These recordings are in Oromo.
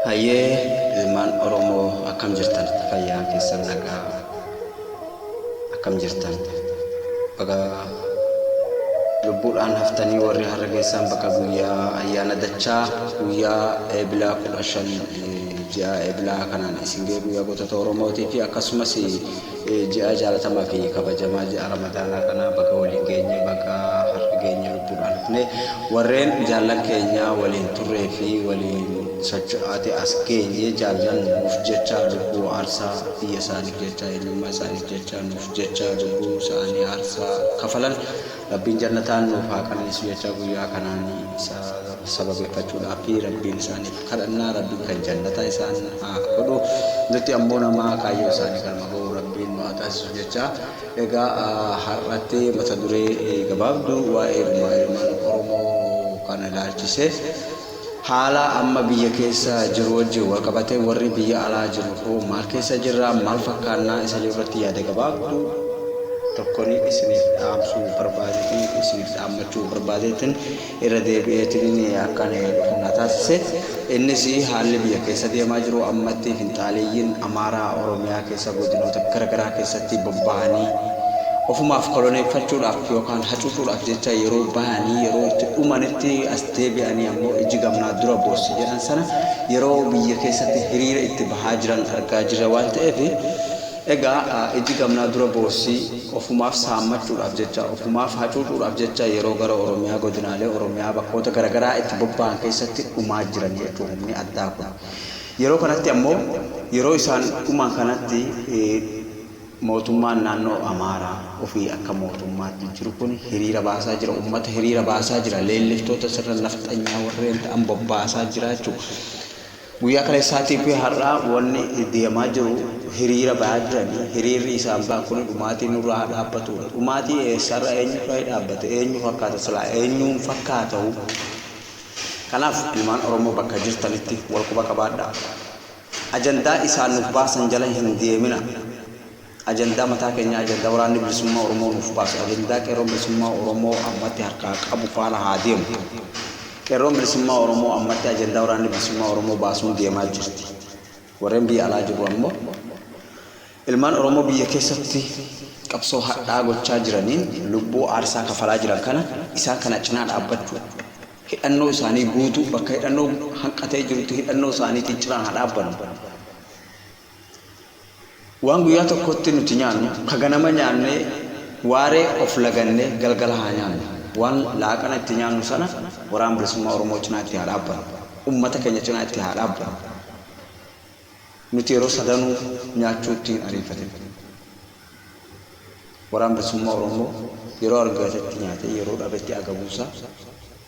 Hayyee ilmaan Oromoo akkam jirtan fayyaan keessan nagaa akkam jirtan baga lubbuudhaan haftanii warri har'a geessaan bakka guyyaa ayyaana dachaa guyyaa eebilaa kudha shan eh, ji'a eebilaa kanaan isin ga'e guyyaa gootota Oromootii fi akkasumas Ji'a jaalatamaa fi kabajamaa ji'a ramadaanaa kanaa baga waliin geenye baga har'a geenye lubbuudhaan dhufne warreen jaallan keenya waliin turree fi waliin socho'aati as geenye jaallan nuuf jecha lubbuu aarsaa biyya isaaniif jecha eenyummaa isaaniif jecha nuuf jecha lubbuu isaanii aarsaa kafalan Rabbiin jannataan nuuf haa qananiisu jechaa guyyaa kanaan isa sababeeffachuudhaafi Rabbiin isaaniif kadhanna Rabbiin kan jannataa isaan haa godhu nutti ammoo nama kaayyoo isaanii galma ga'u Rabbiin nu haa taasisu jecha egaa har'atti mata duree gabaabduu waa'ee gumaa ilmaan Oromoo kana ilaalchise Haala amma biyya keessa jiru wajjin wal qabatee warri biyya alaa jiru hoo maal keessa jirra? Maal fakkaannaa? Isa jedhu irratti yaada gabaabduu tokkon isiniif dhaamsuu barbaadeetiin isiniif dhaammachuu barbaadeetiin irra deebi'eetiin akkan dhufu na taasise. Innis haalli biyya keessa deemaa jiru ammatti finxaaleeyyiin Amaaraa Oromiyaa keessa godinoota garagaraa keessatti bobba'anii ofumaaf koloneeffachuudhaaf yookaan hacuucuudhaaf jecha yeroo bahanii yeroo itti dhumanitti as deebi'anii ammoo iji gamnaa dura boossi jedhan sana yeroo biyya keessatti hiriira itti bahaa jiran argaa jirra waan ta'eef egaa iji gamnaa dura boossi ofumaaf saammachuudhaaf jecha ofumaaf hacuucuudhaaf jecha yeroo gara Oromiyaa godinaalee Oromiyaa bakkoota garagaraa itti bobba'an keessatti dhumaa jiranii jechuudha humni addaa kun. Yeroo kanatti ammoo yeroo isaan dhuman kanatti Mootummaan naannoo Amaaraa ofii akka mootummaatti jiru kun hiriira baasaa jira, uummata hiriira baasaa jira, leelliftoota sirna nafxanyaa warreen ta'an bobbaasaa jira jechuudha. Guyyaa kaleessaatii fi har'aa wanni deemaa jiru hiriira ba'aa jiranii hiriirri isaan ba'an kun dhumaatii nurraa haa dhaabbatudha. Dhumaatii eessarra eenyurra dhaabbate eenyu fakkaata silaa eenyuun fakkaatahu. Kanaaf ilmaan Oromoo bakka jirtanitti wal quba qabaadhaa. Ajandaa isaan nuuf baasan jala hin deemina. Ajandaa mataa keenyaa, ajandaa Waraanni Bilisummaa Oromoo nuuf baase, ajandaa Qeerroon Bilisummaa Oromoo ammatti harkaa qabu faana haa deemnu. Qeerroon Bilisummaa Oromoo ammatti ajandaa Waraanni Bilisummaa Oromoo baasuun deemaa jirti. Warreen biyya alaa jirru ammoo ilmaan Oromoo biyya keessatti qabsoo hadhaa gochaa jiraniin lubbuu aarsaa kafalaa jiran kana isaan kana cinaa dhaabbachuu hidhannoo isaanii guutuu bakka hidhannoo hanqatee jirutti hidhannoo isaaniitiin ciraan haa dhaabbannu. Waan guyyaa tokkotti nuti nyaannu ka ganama nyaannee waaree of lagannee galgala haa nyaannu. Waan laaqana itti nyaannu sana Waraana Bilisummaa Oromoo cinaa itti haa dhaabbannu. Ummata keenya cinaa itti haa dhaabbannu. Nuti yeroo sadanuu nyaachuutti hin ariifatin. Waraan Bilisummaa Oromoo yeroo argatetti nyaatee yeroo dhabetti agabuu isaa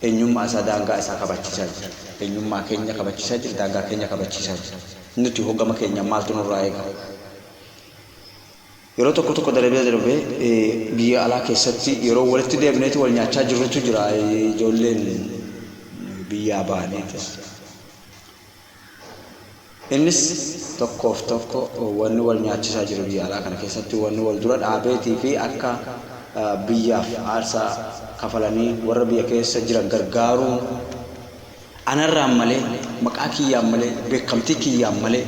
eenyummaa isaa daangaa isaa kabachiisaa jira. Eenyummaa keenya kabachiisaa jira, daangaa keenya kabachiisaa jira. Nuti hoo gama keenyaan maaltu nurraa eegama? Yeroo tokko tokko darbee darbee biyya alaa keessatti yeroo walitti deebineeti wal nyaachaa jirrutu jira ijoolleen biyyaa baaneetis. Innis tokkoof tokko wanni wal nyaachisaa jiru biyya alaa kana keessatti wanni wal dura dhaabeetii fi akka biyyaaf aarsaa kafalanii warra biyya keessa jiran gargaaruun anarraan malee maqaa kiyyaan malee beekamtii kiyyaan malee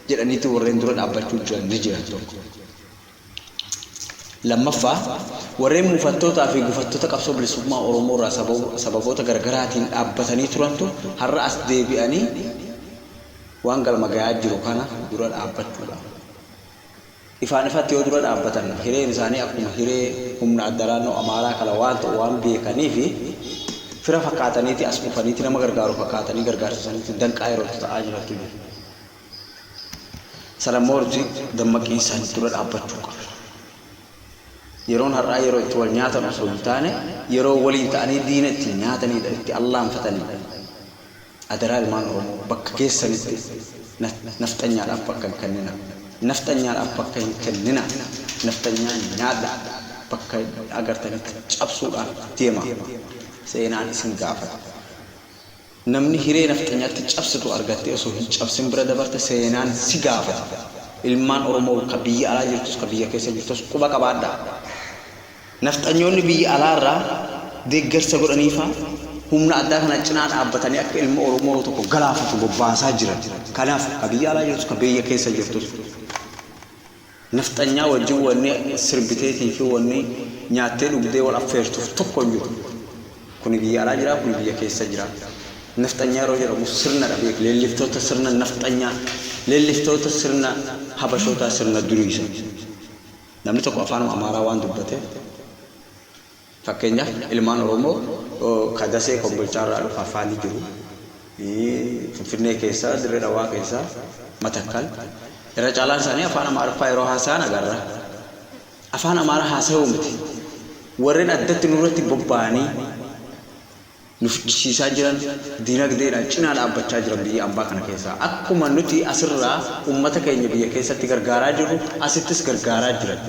jedhaniitti warreen dura dhaabbachuu jiran ni jiran tokko. Lammaffaa, warreen mufattootaa fi gufattota qabsoo bilisummaa Oromoo irraa sababoota gargaraatiin dhaabbatanii turantu har'a as deebi'anii waan galma gayaa jiru kana dura dhaabbachuudha. Ifaan ifatti yoo dura dhaabbatan hireen isaanii akkuma hiree humna adda naannoo Amaaraa kana waan ta'u waan beekaniif fira fakkaataniiti as dhufaniiti nama gargaaru fakkaatanii gargaarsa sanitti danqaa yerootti ta'aa jirantu jiru. Sana moorti dammaqii isaanii dura dhaabbachuu qabna. Yeroon har'aa yeroo itti wal nyaatan osoo hin taane yeroo waliin ta'anii diina ittiin nyaataniidha, itti allaanfataniidha. Adaraa ilmaan Oromoo bakka keessanitti nafxanyaadhaaf bakka hin kennina. Nafxanyaadhaaf bakka hin kennina. Nafxanyaa nyaadha. Bakka agartanitti cabsuudhaaf deema. Seenaan isin gaafata. Namni hiree nafxanyaatti cabsitu argattee osoo hin cabsin bira dabarte seenaan si gaafata. Ilmaan Oromoo ka biyya alaa jirtus ka biyya keessa jirtus quba qabaadhaa. Nafxanyoonni biyya alaa irraa deeggarsa godhaniifaa humna addaa kana cinaa dhaabbatanii akka ilma Oromoo tokko galaafatu bobbaasaa jiran. Kanaaf ka biyya alaa jirtus ka biyya keessa jirtus. Nafxanyaa wajjin wanni sirbiteetii fi wanni nyaattee dhugdee wal affeertuuf tokko hin jiru. Kuni biyya alaa jira, kuni biyya keessa jira. Nafxanyaa yeroo jedhamu sirna dha beeki. Leelliftoota sirna nafxanyaa, leelliftoota sirna Habashootaa sirna durii san. Namni tokko afaanuma Amaaraa waan dubbateef. Fakkeenyaaf ilmaan Oromoo ka Dasee Kombolchaa irraa dhufa afaanii jiru, Finfinnee keessa, Dirre Dhawaa keessa, Matakkal, irra caalaan isaanii afaan Amaariffaa yeroo haasa'an agarra. Afaan Amaaraa haasa'uu miti. Warreen addatti nurratti bobba'anii nu ficcisiisaa jiran diinagdeedhaan cinaa dhaabbachaa jiran biyya ambaa kana keessaa. Akkuma nuti asirraa ummata keenya biyya keessatti gargaaraa jirru asittis gargaaraa jiran.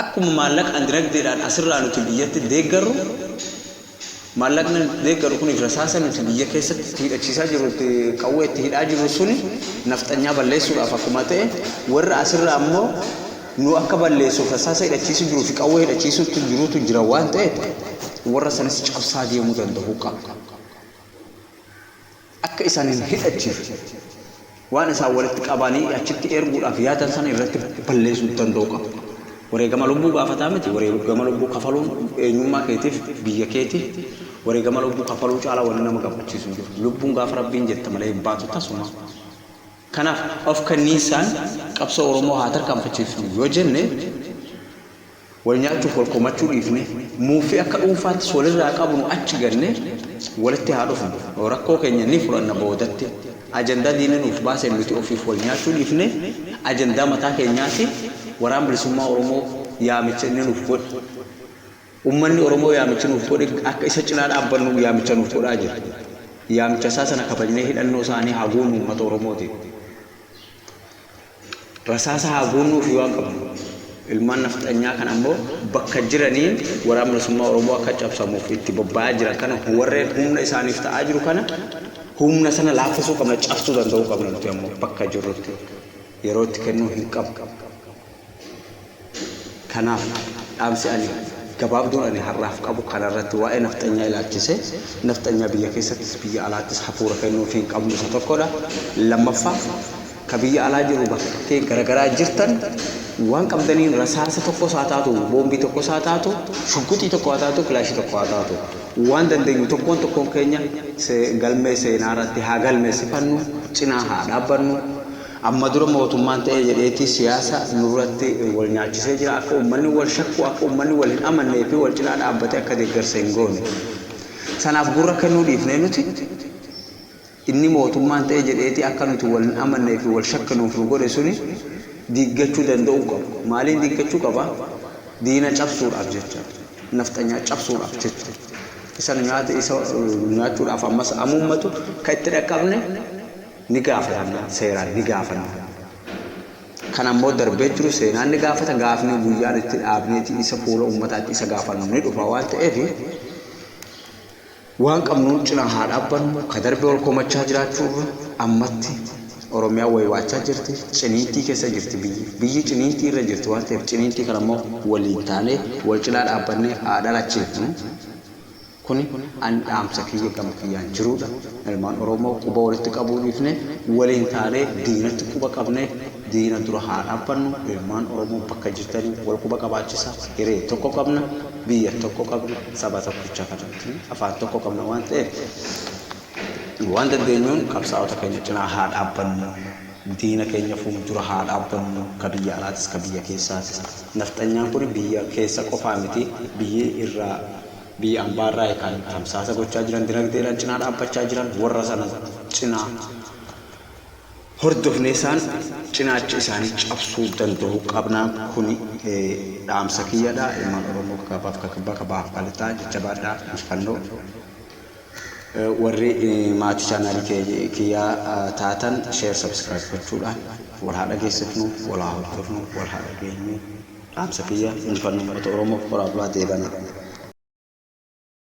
Akkuma maallaqaan dinagdeedhaan asirraa nuti biyyatti deeggarru, maallaqni deeggaru kuniif rasaasa nuti biyya keessatti itti hidhachiisaa jirru, itti qawwee itti hidhaa jirru suni nafxanyaa balleessuudhaaf akkuma ta'e, warra asirraa immoo nu akka balleessuuf rasaasa hidhachiisuu jiruu fi qawwee hidhachiisuutu jirutu jira waan ta'eef warra sanis cabsaa deemuu danda'uu qabna. akka isaan hin hidhachiifne waan isaan walitti qabaanii achitti erguudhaaf yaadan sana irratti balleessuu danda'u qaba. Wareegama lubbuu gaafataa miti. Wareegama lubbuu kafaluun eenyummaa keetiif, biyya keetiif wareegama lubbuu kafaluu caalaa wanni nama gammachiisu hin jiru. Lubbuun gaafa Rabbiin jette malee hin baatu tasumaa. Kanaaf of kenniinsaan qabsoo Oromoo haa tarkaanfachiifnu yoo jenne, Wal nyaachuuf wal komachuu dhiifnee, muuffii akka dhuunfaattis walirraa qabnu achi gannee walitti haa dhufnu. Rakkoo keenya ni furanna boodatti. Ajandaa diinni nuuf baaseen nuti ofiif wal nyaachuu dhiifnee ajandaa mataa keenyaatiin Waraan Bilisummaa Oromoo yaamicha inni nuuf godhe, ummanni Oromoo yaamichi nuuf godhe akka isa cinaa dhaabbannu yaamicha nuuf godhaa jira. Yaamicha isaa sana kabajnee hidhannoo isaanii haa guunnu ummata Oromootiin. Rasaasa haa guunnuufii waan qabnu. Ilmaan nafxanyaa kan ammoo bakka jiraniin Waraanni Bilisummaa Oromoo akka cabsamuuf itti bobba'aa jiran kana warreen humna isaaniif ta'aa jiru kana humna sana laaffisuu qabna, cabsuu danda'uu qabna nuti ammoo bakka jirrutti. Yeroo itti kennuu hin qabnu. Kanaaf dhaamsi ani gabaabduun ani har'aaf qabu kana irratti waa'ee nafxanyaa ilaalchisee nafxanyaa biyya keessattis biyya alaattis hafuura kennuufii hin qabnu isa tokkodha. Lammaffaa ka biyya alaa jiru bakkeetti garagaraa jirtan waan qabdaniin rasaasa tokkos haa taatu boombii tokkos haa taatu shugguxii tokko haa taatu kilaashii tokko haa taatu waan dandeenyu tokkoon tokkoon keenya galmee seenaa irratti haa galmeessifannu cinaa haa dhaabbannu Amma dura mootummaan ta'ee jedheeti siyaasa nurratti wal nyaachisee jira. Akka ummanni wal shakku, akka ummanni wal hin amannee fi wal cinaa dhaabbatee akka deeggarsa hin goone. Sanaaf gurra kennuu dhiifnee nuti inni mootummaan ta'ee jedheeti akka nuti wal hin amannee fi wal shakkinuuf nu godhe suni diiggachuu danda'uu qaba. Maaliin diiggachuu qaba? Diina cabsuudhaaf jecha. Nafxanyaa cabsuudhaaf jecha. Isa nu nyaate isa nu nyaachuudhaaf ammas amuummatu kan itti dhaqqabne ni gaafatamna, seeraan ni gaafanna. Kan ammoo darbee jiru seenaan ni gaafata, gaafni guyyaan itti dhaabneeti isa fuula ummataatti isa gaafannu ni dhufa waan ta'eef waan qabnuun cinaa haa dhaabbannu, ka darbee ol komachaa jiraachuurra ammatti Oromiyaan waywaachaa jirti, ciniintii keessa jirti biyyi. Biyyi ciniintii irra jirti waan ta'eef ciniintii kana ammoo waliin taanee wal cinaa dhaabbannee haa dhalachiifnu. Kuni an dhaamsa kiyya gama kiyyaan jiruudha. Ilmaan Oromoo quba walitti qabuu dhiifnee waliin taanee diinatti quba qabnee diina dura haa dhaabbannu. Ilmaan Oromoo bakka jirtanii wal quba qabaachisaa. Hiree tokko qabna, biyya tokko qabna, saba tokkicha kana yookiin afaan tokko qabna waan ta'eef waan dandeenyuun qabsaa'ota keenya cinaa haa dhaabbannu. Diina keenya fuuldura haa dhaabbannu. Ka biyya alaatis ka biyya keessaatis. Nafxanyaan kuni biyya keessa qofaa miti. Biyyi irraa Biyya ambaa irraa kan tamsaasa gochaa jiran dinagdeedhaan cinaa dhaabbachaa jiran warra sana cinaa hordofnee isaan cinaacha isaanii cabsuu danda'uu qabnaa kuni dhaamsa kiyyadha ilmaan oromoo kakabaaf kakibbaa kabaaf kalixaa jajjabaadha injifannoo warri maatii chaanaalii kiyyaa taatan share subscribe gochuudhaan wal haa dhageessifnu wal haa hordofnu wal haa dhageenyu Dhaamsa kiyya injifanno ummata Oromoof horaa bulaa deebanaa.